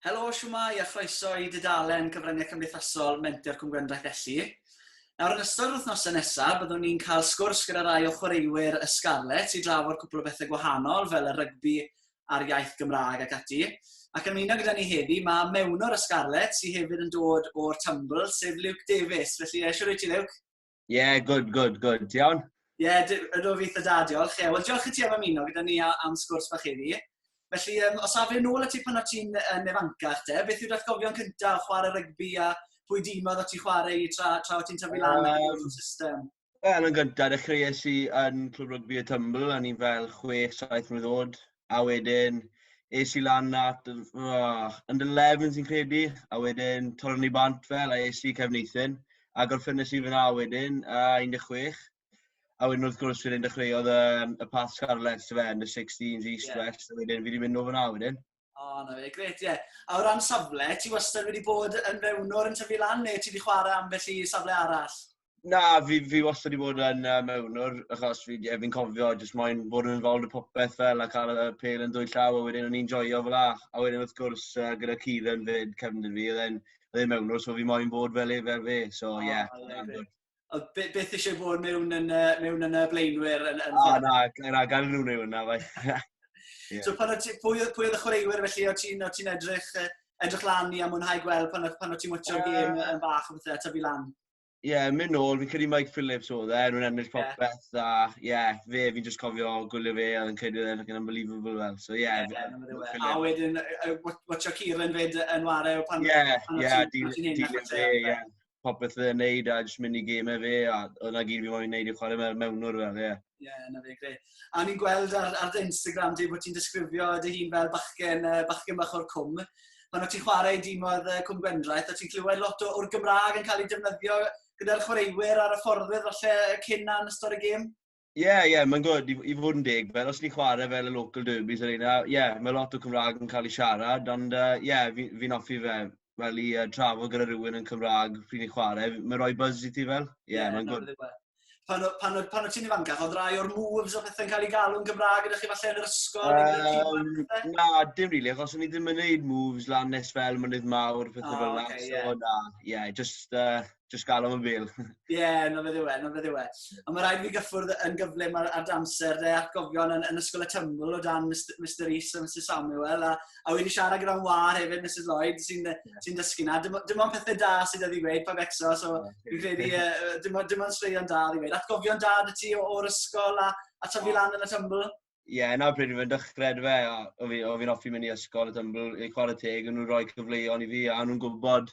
Helo, siwmai a chroeso i dudalen cyfryngau cymdeithasol Menter Cwm Gwendraeth Elli. Nawr yn ystod wythnosau nesaf, byddwn ni'n cael sgwrs gyda rai o chwaraewyr y Scarlets i drafod cwpl o bethau gwahanol fel y rygbi a'r iaith Gymraeg ac ati. Ac yn ymuno gyda ni heddi, mae mewnwr y Scarlets sydd hefyd yn dod o'r Tumble, sef Luke Davies. Felly, eisiau rwyt ti, Luke? Ie, good, good, good. Ti iawn? Ie, ydw fi eitha da, diolch. Ie, wel, diolch i ti am ymuno gyda ni am sgwrs bach heddi. Felly, um, os afon yn ôl at ti pan o ti'n uh, nefancach te, beth yw'r atgofion cyntaf o chwarae rygbi a pwy dîmodd o ti chwarae i tra, tra o ti'n tyfu lan um, o'r system? Wel, yn gyntaf, dechreuais i yn Clwb Rygbi y Tymbl, a ni'n fel 6-7 mlynedd oed. a wedyn es i lan at yr oh, under 11 sy'n credu, a wedyn torron ni bant fel, a es i Cefneithyn, a gorffynnes i fyna wedyn, a 16. A wedyn wrth gwrs wedyn dechreuodd y, y Path Scarlets, fe, yn y 16s East yeah. West, a wedyn fi wedi mynd o fyna wedyn. O, oh, na fe, gret, ie. Yeah. A o ran safle, ti wastad wedi bod yn mewn o'r yn tyfu lan, neu ti wedi chwarae ambell i safle arall? Na, fi, fi wastad wedi bod yn uh, mewnwr, achos fi, yeah, fi'n cofio jyst moyn bod yn involved y popeth fel, a cael y pel yn dwy llaw, a wedyn o'n i'n joio fel a. A wedyn wrth gwrs, uh, gyda Kieran fyd, cefndir fi, oedd e'n e mewnwr, so fi moyn bod fel e fel fe, so ie. Yeah, oh, yeah, yeah. Ond beth eisiau bod mewn yn, uh, mewn yn y blaenwyr? Yn, yn... Ah, na, na, gan nhw'n ei wna, fai. yeah. So pan o ti, pwy, pwy oedd y chwaraewyr felly, o ti'n ti edrych, edrych lan i a mwynhau gweld pan, pan o ti'n mwtio'r yeah. gêm yn fach o bethau, ta fi lan? Ie, yeah, mynd nôl, fi'n credu Mike Phillips oedd e, nhw'n ennill popeth, yeah. a ie, yeah, fe, fi'n just cofio gwylio fe, a fi'n credu oedd e'n unbelievable fel, so ie. Yeah, yeah, yeah, a wedyn, watcha Kieran fyd yn wario pan... Ie, ie, dilyn fe, ie. Popeth fe'n neud, a jyst mynd i gymau fe, a o'na gyd fi'n moyn neud i chwarae mewn mewnwr fel, ie. Ie, yeah, na fe, gre. A ni'n gweld ar, ar dy Instagram di bod ti'n disgrifio dy hun fel bachgen, uh, bachgen bach o'r cwm. Pan o't ti'n chwarae i dîm oedd uh, Cwm Gwendraeth, o't ti'n clywed lot o'r Gymraeg yn cael ei defnyddio gyda'r chwaraewyr ar y fforddwyr falle cyn na'n ystod y gêm? Ie, yeah, ie, yeah, mae'n gwrdd i, i fod yn deg, fel os ni chwarae fel y local derbies ar yna, ie, yeah, mae lot o Cymraeg yn cael ei siarad, ond ie, uh, yeah, fi'n fi offi fe fel i uh, trafod gyda rhywun yn Cymraeg pryd ni'n chwarae, mae'n rhoi buzz i ti fel? Ie, yeah, yeah, mae'n gwrdd. pan, pan, pan, pan o ti'n ifancach, oedd rai o'r moves o pethau'n cael ei galw'n Gymraeg gyda chi falle yn yr ysgol? Um, na, dim rili, really, achos o'n i ddim yn gwneud moves lan nes fel mynydd mawr, pethau oh, fel yna. Okay, yeah. So na, ie, yeah, just, uh, just gael o'n bil. Ie, yeah, na fe ddiwe, na fe ddiwe. Ond mae rhaid fi gyffwrdd yn gyflym ar, ar damser de, at gofion yn, yn ysgol y tyml o dan Mr, Mr Rees a Mr Samuel, a, A wedi siarad gyda'n war hefyd, Mrs Lloyd, sy'n yeah. sy dysgu na. Dim, dim ond pethau da sydd wedi gweud pa becso, so fi'n credu uh, dim, dim ond straeon da wedi gweud. Atgofion da dy ti o'r ysgol a, a tyfu lan yn y tymbl? Ie, yeah, na pryd fi'n dychred fe, o fi'n fi offi mynd i ysgol y tymbl, i chwarae teg, nhw'n rhoi cyfleon i fi, a nhw'n gwybod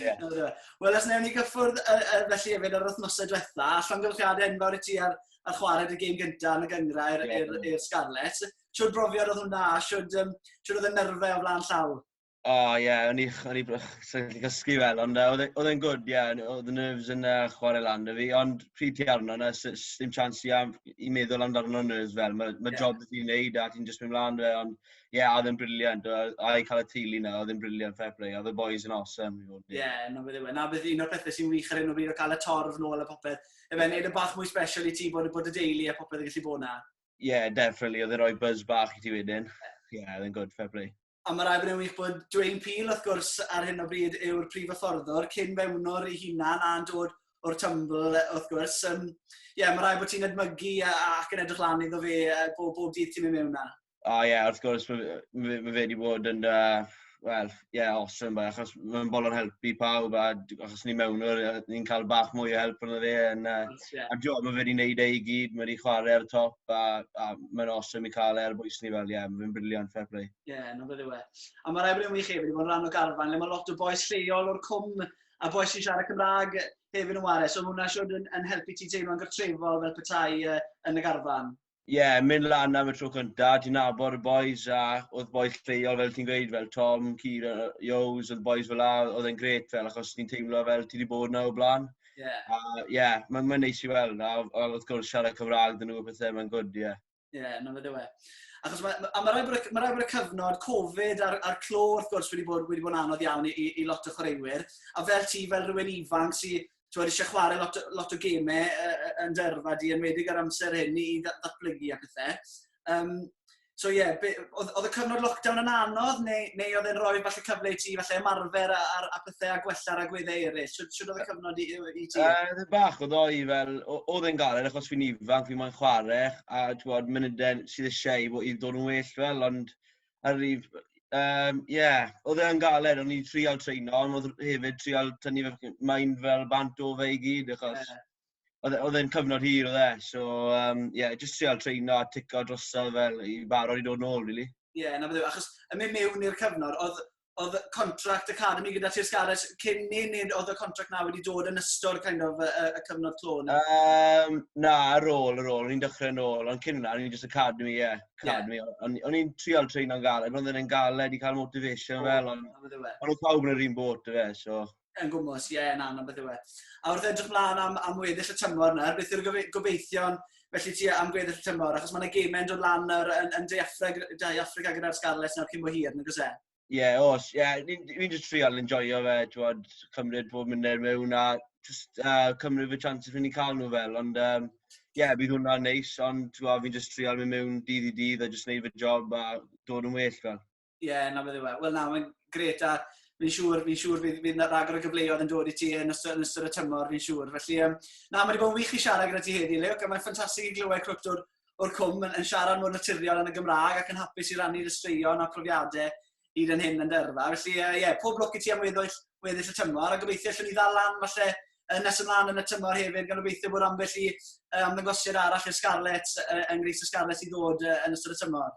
Yeah. Wel, os newn ni gyffwrdd uh, uh, felly efo ar wythnosau diwetha, a llongyflliadau enfawr i ti ar, ar chwarae y gêm gyntaf yn y gyngrau i'r yeah. er, er Scarlets. Siwr brofiad oedd hwnna, siwr, um, oedd y nerfau o flaen llaw? O, oh, ie, yeah, o'n i, o'n i, o'n i gysgu fel, ond oedd e'n e, gwrdd, ie, yeah, oedd y nerves yn uh, chwarae lan y fi, ond pryd ti arno, na, dim chance i, am, i meddwl amdano nerves fel, mae ma yeah. job ti'n neud a ti'n just mynd mlaen fe, ond Ie, yeah, oedd yn briliant. A i cael y teulu na, oedd yn briliant, fair play. Oedd y boys yn awesome. Ie, yeah, na beth yw e. Na beth un o'r pethau sy'n wych ar hyn o bryd o cael y torf nôl a popeth. Efe, yeah. neud y bach mwy special i ti bod, bod y deulu a popeth yn gallu bod na. Ie, yeah, definitely. Oedd yn rhoi buzz bach i ti wedyn. Ie, yeah, oedd yn good, fair play. A mae rai bod yn wych bod Dwayne Peel, wrth gwrs, ar hyn o bryd yw'r prif yfforddwr, cyn mewnwr ei hunan a'n dod o'r tymbl, wrth gwrs. Ie, um, yeah, mae rai bod ti'n edmygu ac yn edrych lan iddo fe bob, bob dydd ti'n mynd mewn na. O ie, wrth gwrs, mae fe, mae fe wedi bod yn, uh, wel, ie, yeah, awesome bach, achos mae'n bol o'n helpu pawb, a achos ni mewn o'r, ni'n cael bach mwy o help yn fe, yn, uh, yeah. a John, mae fe wedi gwneud ei gyd, mae wedi chwarae ar y top, a, a mae'n awesome i cael e ar bwys ni fel, ie, yeah, mae fe'n briliant, fair play. Ie, yeah, no fe ddiwe. A mae'r ebryd yn wych hefyd, mae'n rhan o garfan, le mae lot o boes lleol o'r cwm, a boes sy'n siarad Cymraeg hefyd yn wario, so mae hwnna siwr yn, yn helpu ti teimlo'n gartrefol fel petai uh, yn y garfan. Ie, yeah, mynd lan am y tro cynta, ti'n nabod y boys, a oedd boys lleol, fel ti'n gweud, fel Tom, Kira, Joes, oedd boys fel la, oedd e'n gret fel, achos ti'n teimlo fel ti wedi bod na o blaen. Ie. Yeah. A, ie, yeah, mae'n ma neis i weld, a, a wrth gwrs siarad Cymraeg dyn nhw a pethau, mae'n gwrdd, ie. Yeah. Ie, yeah, na fydde we. Achos mae ma, ma rhaid bod, ma y cyfnod Covid a'r, ar clo, wrth gwrs, wedi bod, wedi bod yn anodd iawn i, i, i lot o chwaraewyr. A fel ti, fel rhywun ifanc sydd tywed, eisiau chwarae lot, lot o gemau yn dy yrfa di, yn wedig ar amser hyn i ddatblygu a pethau. Um, so ie, yeah, oedd y cyfnod lockdown yn anodd, neu, neu oedd e'n rhoi falle cyfle i ti, falle ymarfer a, a, a pethau a gwella'r agweddau eraill? Sut oedd y cyfnod i, i ti? Oedd uh, bach oedd o'i fel, oedd e'n galed achos fi'n ifanc, fi'n moyn chwarae, a ti'n bod, munudau sydd eisiau i, i ddod yn well fel, ond ar ryf yy yym ie odd e yn galed o'n i'n trial treino on' odd r- hefyd trial tynnu fe f- main fel bant o fe i gyd achos... Ie. ...odd e odd e'n cyfnod hir odd e so yym ie jyst trial treino a tico drosodd fel i barod i dod nôl rili. Ie 'na fe achos yn myn' miwn i'r cyfnod odd oedd contract academy gyda Tir Scares cyn ni, neu oedd y contract na wedi dod yn ystod kind of, y, y cyfnod clo ni? Um, na, ar ôl, ar ôl, o'n i'n dechrau yn ôl, ond cyn hwnna, o'n i'n just academy, ie, yeah, academy. Yeah. O'n i'n trial train o'n galed, ond o'n i'n galed i cael motivation oh, fel, ond e. o'n nhw pawb yn yr un bot, fe, so... Yn gwmwys, ie, na, na beth yw e. A wrth edrych mlaen am, am weddill y tymor nawr, beth yw'r gobeithion felly ti am gweddill y tymor? Achos mae yna gemau yn dod lan nawr yn, yn De Affrica, De Affrica gyda'r Scarlets nawr cyn bo hir, nag oes e? Ie, yeah, os, ie, yeah, ni'n ni just trial yn joio fe, twod, cymryd bob munud mewn a just uh, cymryd fy chance fi'n ni'n cael nhw fel, ond ie, um, yeah, bydd hwnna'n neis, ond twod, fi'n just trial mynd mewn dydd i dydd a just neud fy job a dod yn well fel. Ie, na beth yw e. Wel na, mae'n gret a fi'n siŵr, fi'n siŵr fydd, fydd na ragor o gyfleoedd yn dod i ti yn ystod, yn ystod y tymor, fi'n siŵr. Felly, um, na, mae wedi bod yn wych i siarad gyda ti heddi, Luke, a mae'n ffantastig i glywed cwrt o'r, or cwm yn, yn siarad mor naturiol yn y Gymraeg ac yn hapus i rannu'r ystraeon a profiadau hyd yn hyn yn dyrfa. Felly, ie, uh, yeah, pob lwc i ti am weddill, weddill y tymor, a gobeithio allwn ni ddal lan falle yn nes ymlaen yn y tymor hefyd, gan obeithio bod ambell i uh, ymddangosiad arall i'r Scarlets, uh, yng Ngreis y Scarlets i ddod uh, yn ystod y tymor.